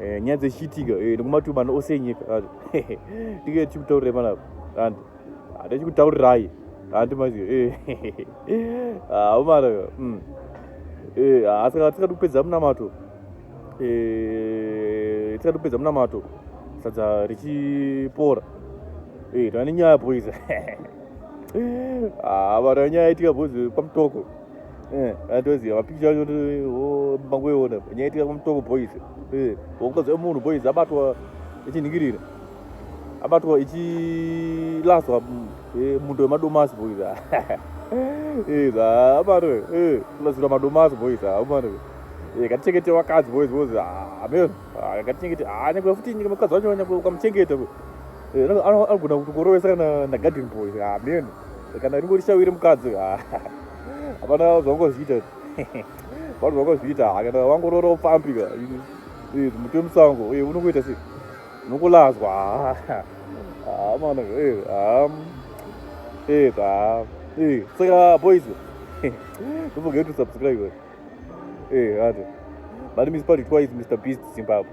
eh, nyaya dzechiitika eh, nekumatubana ose enyika ah, tike tichikutaurirai panapa and hata chikutaurirai handi mazi aumana ah, mm. eh, ah, saka tikati kupedza munamato eh, tikati kupedza munamato sadza richipora eh, tane nyaya boys haa ah, vana nyaya itika boys pamutoko Eh, atoziva mapikicha acho mangoiona nyaya itika kumutoko boys eh, wakutoziva eh, munhu boys abatwa ichinhingirira abatwa ichilaswa mundo wemadomasi boys abatwa kulasirwa madomasi boys amana ngatichengete vakadzi boys boys ameno ngatichengete nyangwe futi nyika mukadzi wacho nyangwe ukamuchengeta anogona kutokurovesa kana nagarden boys ameno kana ringori shawiri mukadzi uyu hapana zvangozviita vanhu vangozviita hakana vangorora upfambi muti wemusango uye unongoita sei nokulazwa hamana saka boys don't forget to subscribe ati but miss party twice mr beast zimbabwe